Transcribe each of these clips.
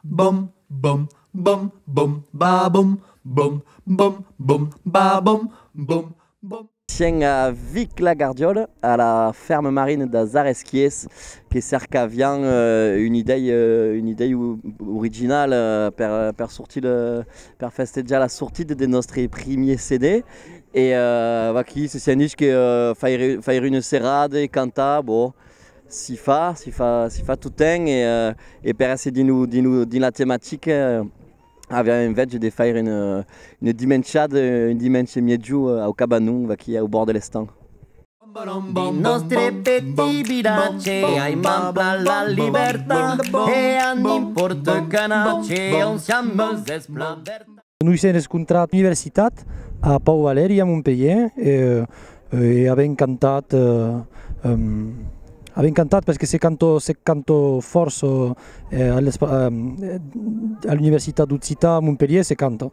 Bom bom bom bom ba bom bom bom bom ba bom bom bom. Sien a Vic la Gardiole a la ferme marine das Aresquiers que cercavian un idei un idei original per per sortir per festejar la sortida de nòstre primier CD E vaquí, se sentís que faire una serrada e cantar, bon, si fa, si fa, si fa tottemps e e per èsser dins lo, dins lo, dins la tematica aviá enveja de faire una una dimenchada, un dimenge miègiu au Cabanon, vaquí au bòrd de l'estang. Dins nòstre petit vilatge ai manpla la libertat e a n'impòrta qu'a natge on siam eus es plan vertat. Noi sèn escontrat a l'Universitat, a Pòu Valèri a Montpelhièr e avèm cantat, avèm cantat perque se cantò, se cantò fòrç a l'Universitat d'Occità a Montpelhièr se canta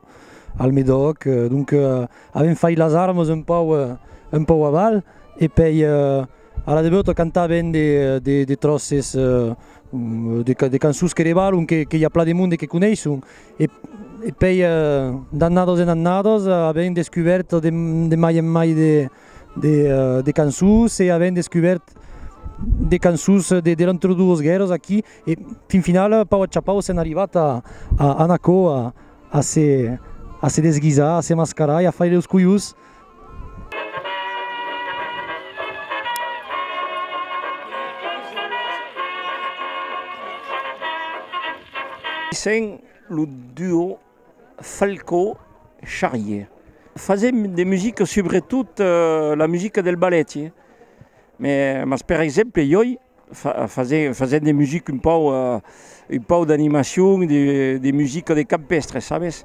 al Medoc, donque avèm fait las armas un pòu un pòu aval e pei a la debeut cantavèm de tròces de cançons que debalon que i a plan de monde que coneisson E pei d'annados e d'annados avèm descubèrt de mai en mai de cançons e avèm descubèrt de cançons de entre doas guèrras aquí e fin finala a pau a chapau sèm arribat a anar aquò a se desguisar, a se mascarar e a faire los colhos Sent lo duo Falcó-Charrier. Fasèm de musica subretot la musica del ballet, mas per exemple ioi Fasent de musica un pauc, un pauc d'animacion, de musica de campestre, sabes?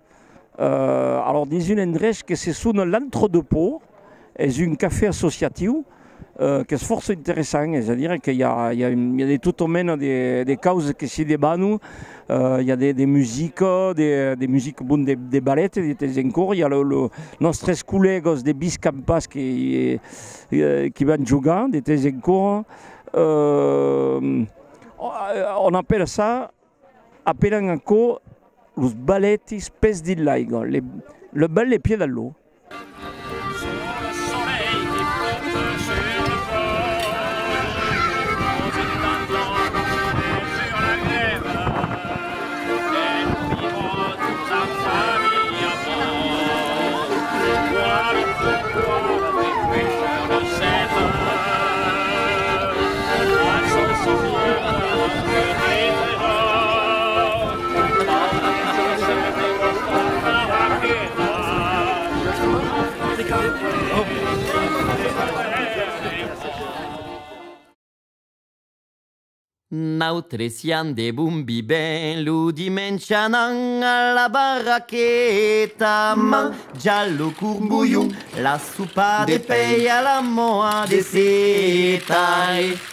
Euh, alors dins un endrech que se sona l'Entre-deux-Pots, es un cafè associatiu, euh, qu'es fòrça interessant, es a dire que i a, i a, i a de tota mena de, de causas que se debanan, euh, i a de, de musica, de, de musica, bon, de, de ballet de temps en còrs, i a lo, lo, nòstres collègas de Biscampas que i, euh, qui van jogar de temps en còrs, euh, on appelle ça, Apèlan aquò los balètis pès dins l'aiga, le bal de pied a l'eau. Nautres siam de bon biben lo dimenge anam a la barraqueta manjar lo corbolhon, la sopa de pei a la moa de seta e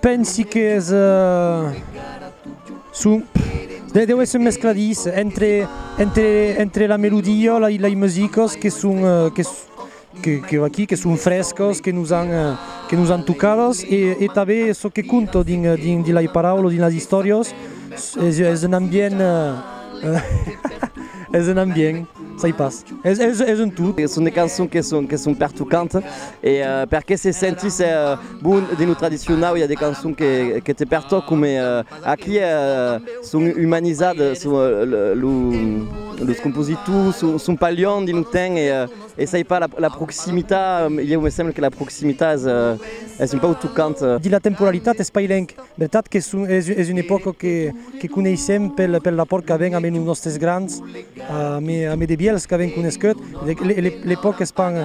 Pensi qu'es son deu èsser un mescladís entre la melodia e lei musicas que son aquí que son frescas que nos an tocadas e tanben çò que conta dins de lei paraulas dins las istòrias es un ambient es un ambient sai pas es un tot. Son de cançons que son pertocant e perqué se sentís Bon, dins lo tradicionau i a de cançons que te pertòcan, mai aquí son umanizadas, los compositors son pas luènh dins lo temps e s'ai pas la proximitat, ieu me sembla que la proximitat es un pauc tocant. Dins la temporalitat es pas luènh, vertat que es una epòca que coneissèm pel rapòrt qu'avèm ambe los nòstes grands, ambe de vièlhs qu'avèm coneishut, l'epòca es pas...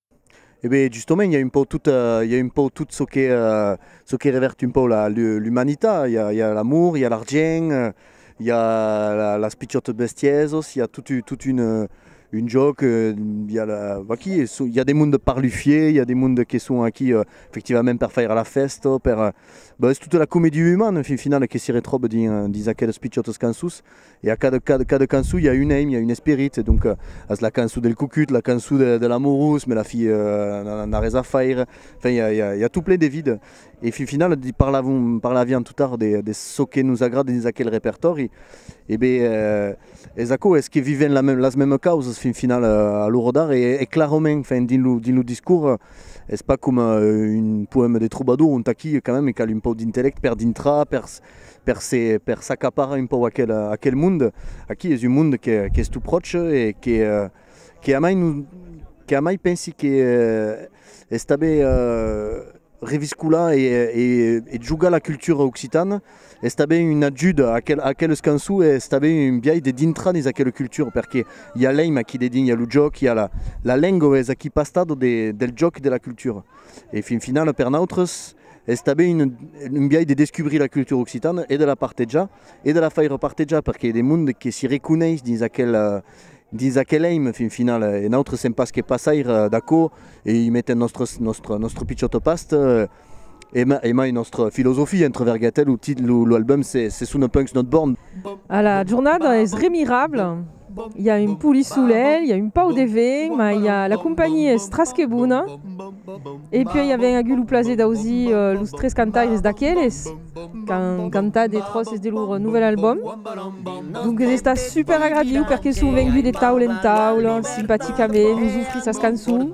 E ben justomènt i a un pauc tot, i a un pauc tot çò que çò que revèrt un pauc la l'umanitat, i a i a l'amor, i a l'argent, i a las pichòtas bestièsas, i a tot tot un un jòc, i a la vaquí e çò, i a de monde parlufier, i a de monde que son aquí efectivament per faire la fèsta, per ben es tota la comédie humane en fin finale que se retròba dins dins aquelas pichòtas cançons E a cada cada cada cançon i a un aim, i a un esperit, e donc as la cançon del cucut, la cançon de de l'amorós, me la fi n'a n'a res a faire, enfin i a i a i a tout plein de vide. E fin finala di parlavon parlavián tout tard de de çò que nos agrada dins aquel repertòri, e be es aquò, es que vivèn la las mèmes causas fin finala a l'ora d'ara, e e clarament, enfin dins lo dins lo discors es pas coma un poème de trobador ont aquí quand même i cal un pauc d'intellèct per dintrar, per per se per s'acaparar un pòu aquel aquel monde aquí es un monde que qu'es tout pròche e que que amai non que amai pensi que estabe reviscolar e e jogar la cultura occitana estabe un ajut a aquel aqueles cançó e estabe un biais de dintrar dins aquela cultura perque i a l'eim aquí dedins i a lo jòc i a la la lenga es aquí pastat de del jòc de la cultura e fin finala per nautres Es tanben un biais de descubrir la cultura occitana e de la partejar e de la faire partejar perque i a de monde que si reconeis dins aquel dins aquel èime fin final e nautres sèm pas que passaire d'aquò e i metem nòstres nòstre nòstre pichòt au past e mai e mai nòstre filosofia entre verguetas lo tit lo album se se sona Punks Not Born. Ala jornada es remirabla. Hi a un poli solelh, hi a un pau de vent, ma i a la companhia es tras que bona. E puèi i avèm agut lo plaser d'ausir los tres cantaires d'aqueles qu'an cantat de tròces de lor novèl albòm. Donques esta super agradiu perque son venguts de taula en taula, simpaticament, nos ofrir sas cançons.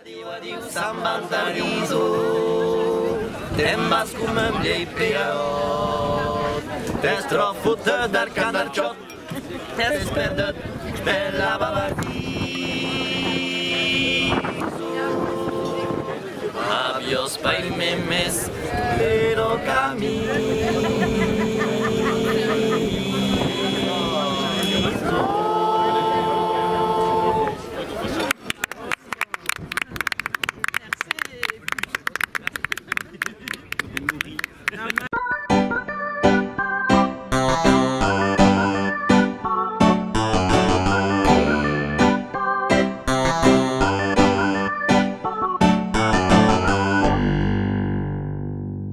Adiu, adiu, Sant Baltariso, te'n vas coma un vielh pegaut, t'es trop fotut del cant del chòt, t'es perdut per la Baltariso. Aviós, pair meu, mes que lo camino.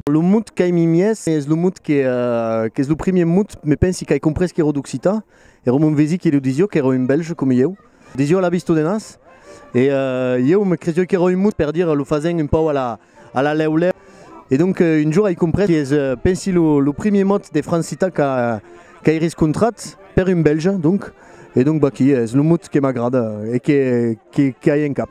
Lo mot qu'ai mis es lo mot qu'es lo primièr mot me pensi qu'ai comprés qu'èra d'occitan Ero mon vesi qui lo disio qu'ero un belge com ieu. Disio la visto de nas e ieu me cresio qu'ero un mut per dire lo fasen un pauc a la lèu lèu. E donc un jour ai comprés qu'es pensi lo primier mot de francita qu'ai riscontrat per un belge donc e donc baquí es lo mot que m'agrada e qu'ai en cap.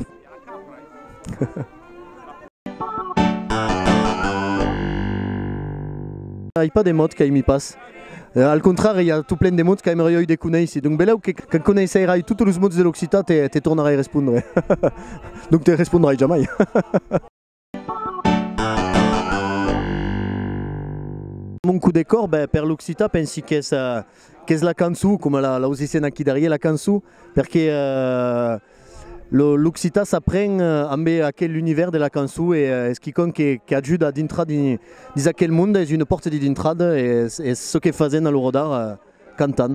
Ai pas de mots qu'aimi pas. Al contrari, i a tot plen de mots qu'aimerai oi de conéisser. Donc belèu que quand conéisserai totes los mots de l'occitan te tornarai respondre. Donc te respondrai jamai. Mon coup de cor, ben per l'occitan pensi qu'es qu'es la cançon coma l'aus dissent aquí darrier la cançon perque l'occitan s'apren ambe aquel univèrs de la cançon e es quicòm que qu'ajuda a dintrar dins aquel monde es una pòrta de dintrada e es çò que fasèm a l'Orodar cantant.